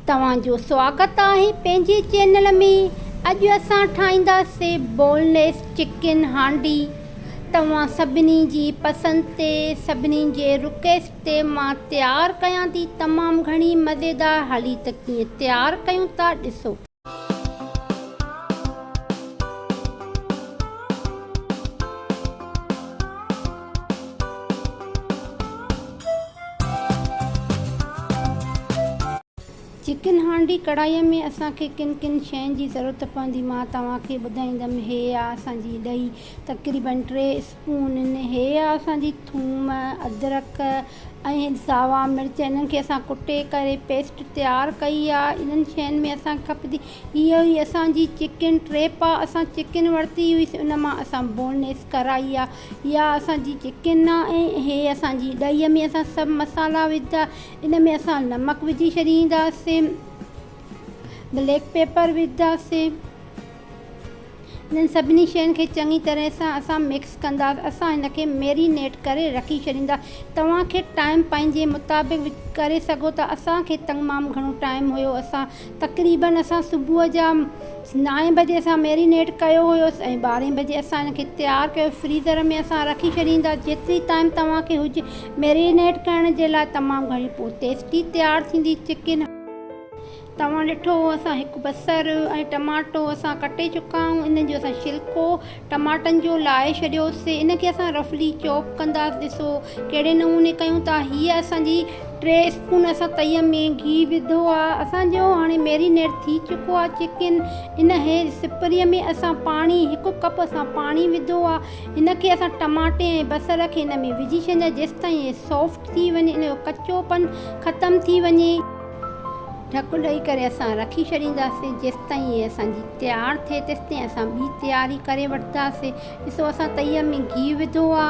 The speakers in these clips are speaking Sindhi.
توهان جو سواگت آهي پنهنجي چينل ۾ اڄ اسان ٺاهينداسي بون ليس چڪن هانڊي توهان سڀني جي پسند تي سڀني جي رڪيسٽ تي مان تيار ڪيان ٿي تمام گهڻي مزيدار هلي ته ڪيئن تيار ڪيون ٿا ڏسو. چڪن هانڊي ڪڙهائي ۾ اسان کي ڪن ڪن شين جي ضرورت پوندي مان توهان کي ٻڌائيندم هي آ اسان جي ڏهي تقريبن ٽي انهن هي اسان جي ٿوم، ادرڪ ۽ ساوا مرچ انهن کي اسان ڪٽي ڪري پيسٽ تيار ڪئي آ انهن شين ۾ اسان کپندي اهو ئي اسان جي چڪن ٽريپ آ اسان چڪن ورتي هئي سي ان مان اسان بون ليس ڪرائي آ اها اسان جي چڪن آ ۽ هي اسان جي ڏهي ۾ اسان سڀ مسالا وجهندا ان ۾ اسان نمڪ وجهي ڇڏينداسين بليڪ پيپر وجهنداسين. انهن سڀني شين کي چڱي طرح سان اسان مڪس ڪنداس اسان هن کي ميرينيٽ ڪري رکي ڇڏيندا توهان کي ٽائيم پنهنجي مطابق وج ڪري سگهو ٿا اسان کي تمام گهڻو ٽائيم هيو اسان تقريبن اسان صبح جا نائين بجي اسان ميرينيٽ ڪيو هيو ۽ ٻارهين بجي اسان هن کي تيار ڪيو فريزر ۾ اسان رکي ڇڏيندا جيتري ٽائيم توهان کي هج ميرينيٽ ڪرڻ جي لاء تمام گهڻي پوتيسٽي تيار ٿيندي چڪن توهان ڏٺو اسان هڪ بصر ۽ ٽماٽو اسان ڪٽي چڪا آهيون انهن جو اسان ڇلڪو ٽماٽن جو لاهي ڇڏيوسي ان کي اسان رفلي چوپ ڪنداس ڏسو ڪهڙي نموني ڪيون ٿا هي اسان جي ٽي اسپون اسان تئي ۾ گيهه وڌو آهي اسان جو هاڻي ميرينيڊ ٿي چڪو آهي چڪن انهي سپري ۾ اسان پاڻي هڪ ڪپ اسان پاڻي وڌو آهي ان کي اسان ٽماٽي ۽ بصر کي ان ۾ وجهي ڇڏينداسين جيستائين هي سافٽ ٿي وڃي ان جو ڪچو پن ختم ٿي وڃي. ڍڪ ڏئي ڪري اسان رکي ڇڏينداسين، جيستائين هي اسان جي تيار ٿئي تيستائين اسان ٻي تياري ڪري وٺنداسين، ڏسو اسان تئيء ۾ گيهه وڌو آ،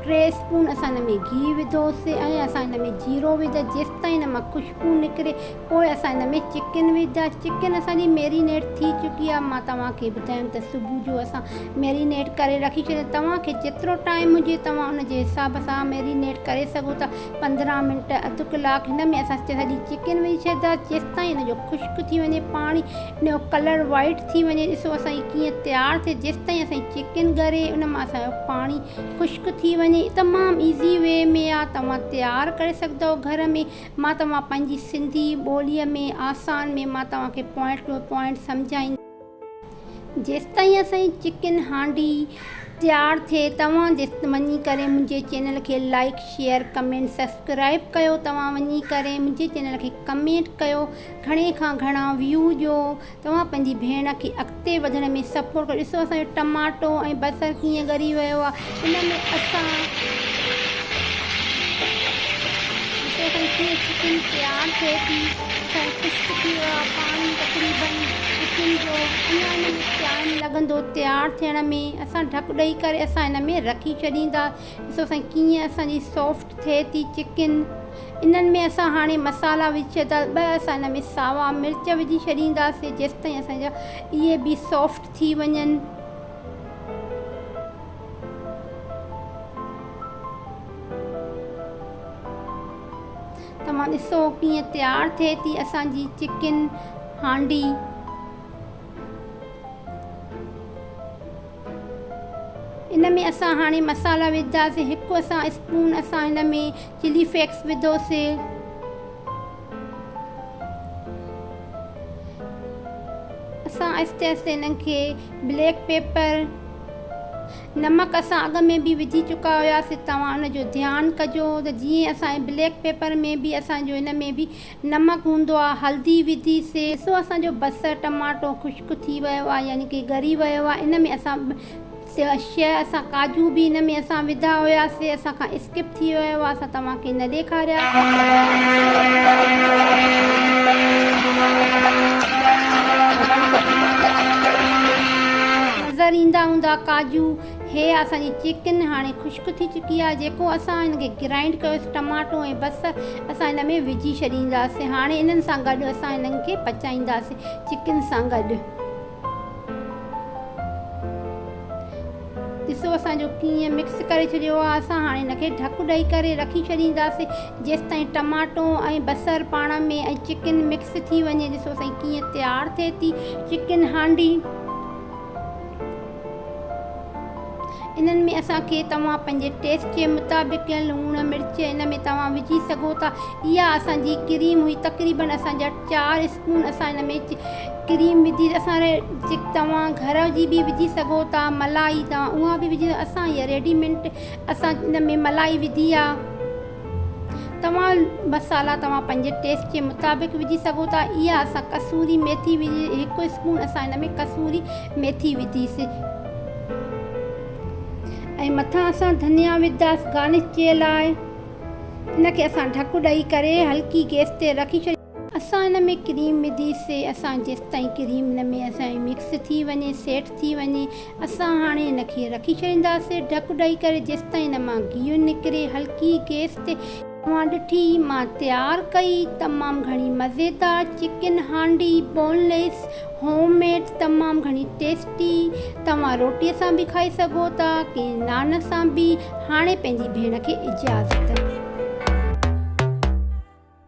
ٽي اسپون اسان ان ۾ گيهه وڌوسي ۽ اسان ان ۾ جيرو وڌا، جيستائين ان مان خوشبو نڪري پوء اسان ان ۾ چڪن وڌا، چڪن اسان جي ميرينيٽ ٿي چڪي آ، مان توهان کي ٻڌايم ته صبح جو اسان ميرينيٽ ڪري رکي ڇڏي، توهان کي جيترو ٽائيم هجي توهان ان جي حساب سان ميرينيٽ ڪري سگهو ٿا. پندرهن منٽ اڌ ڪلاڪ هن ۾ اسان سڄي چڪن وجهي ڇڏيندا جيستائين ان جو خشڪ ٿي وڃي پاڻي ان جو ڪلر وائٽ ٿي وڃي ڏسو اسان جي ڪيئن تيار ٿئي جيستائين اسان جي چڪن ڳري ان مان اسان جو پاڻي خشڪ ٿي وڃي تمام ايزي وي ۾ آ توهان تيار ڪري سگهدؤ گهر ۾ مان توهان پنهنجي سنڌي ٻولي ۾ آسان ۾ مان توهان کي پوائنٽ ٽو پوائنٽ سمجهائين جيستائين اسانجي چڪن هانڊي تيار ٿئي توهان وڃي ڪري منهنجي چينل کي لائڪ شيئر ڪمينٽ سبسڪرائب ڪيو توهان وڃي ڪري منهنجي چينل کي ڪمينٽ ڪيو گهڻي کان گهڻا ويو ڏيو توهان پنهنجي ڀيڻ کي اڳتي وڌڻ ۾ سپورٽ ڪيو ڏسو اسانجو ٽماٽو ۽ بصر ڪيئن ڳري ويو آهي ان ۾ اسان جتي کن ڪيئن ڇڪين پيار ٿئي ٿي ته خشڪ ٿي ويو آ پاڻي تقريبن اچين جو اڃا ان ۾ ٽائيم لڳندو تيار ٿيڻ ۾ اسان ڍڪ ڏئي ڪري اسان ان ۾ رکي ڇڏين ٿا ڏسو سائين ڪيئن اسان جي سوفٽ ٿئي ٿي چڪن انهن ۾ اسان هاڻي مسالا وجهي ڇڏيندا ٻه اسان ان ۾ ساوا مرچ وجهي ڇڏينداسين جيستائين اسان جا اهي به سوفٽ ٿي وڃن. توهان ڏسو ڪيئن تيار ٿئي ٿي اسان جي چڪن هانڊي. ان ۾ اسان هاڻي مصالحا وجهنداسين. هڪ اسان اسپون اسان هن ۾ چلي فيڪس وڌوسي. اسان آهستي آهستي انهن کي بليڪ پيپر، نمڪ اسان اڳ ۾ به وجهي چڪا هياسين توهان ان جو ڌيان ڪجو ته جيئن اسان جي بليڪ پيپر ۾ به اسان جو ان ۾ به نمڪ هوندو آهي هلدي وڌي سي. ڏسو اسان جو بصر ٽماٽو خشڪ ٿي ويو آهي يعني ڪي ڳري ويو آهي ان ۾ اسان شيء اسان ڪاجو به ان ۾ اسان وڌا هيا سي اسان کان اسڪپ ٿي ويا هئا اسان توهان کي نه ڏيکاريانظر ايندا هوندا ڪاجو هيء اسان جي چڪن هاڻي خشڪ ٿي چڪي آهي جيڪو اسان هن کي گرائنڊ ڪيو سي ٽماٽو ۽ بصر اسان هن ۾ وجهي ڇڏيندا سي هاڻي انهن سان گڏ اسان هن کي پچائيندا سي چڪن سان گڏ. ڏسو اسان جو ڪيئن مڪس ڪري ڇڏيو آهي اسان هاڻي ان کي ڍڪ ڏئي ڪري رکي ڇڏينداسين جيستائين ٽماٽو ۽ بصر پاڻ ۾ ۽ چڪن مڪس ٿي وڃي ڏسو سائين ڪيئن تيار ٿئي ٿي چڪن هانڊي انهن ۾ اسان کي توهان پنهنجي ٽيسٽ جي مطابق لوڻ مرچ ان ۾ توهان وجهي سگهو ٿا اها اسان جي ڪريم هئي تقريبن اسان جا 4 اسپون اسان ان ۾ ڪريم وجهي اسان توهان گهر جي به وجهي سگهو ٿا ملائي توهان اها به وجهي اسان هي ريڊيمنٽ اسان ان ۾ ملائي وجهي آ توهان مسالا توهان پنهنجي ٽيسٽ جي مطابق وجهي سگهو ٿا اها اسان ڪسوري ميٿي وجهي هڪ اسپون اسان ان ۾ ڪسوري ميٿي وجهي سي ۽ مٿان اسان ڌنيا وجهدا سي گارنش جي لاء ان کي اسان ڍڪ ڏئي ڪري هلڪي گيس تي رکي ڇڏي اسان ان ۾ ڪريم وڌي سي اسان جيستائين ڪريم ان ۾ اسان جي مڪس ٿي وڃي سيٽ ٿي وڃي اسان هاڻي ان کي رکي ڇڏيندا سي ڍڪ ڏئي ڪري جيستائين ان مان گيهه نڪري هلڪي گيس تي اوهان ڏٺي مان تيار ڪئي تمام گهڻي مزيدار chicken handi boneless home made تمام گهڻي ٽيسٽي توهان روٽي سان به کائي سگهو ٿا ڪنهن نان سان به هاڻي پنهنجي ڀيڻ کي اجازت.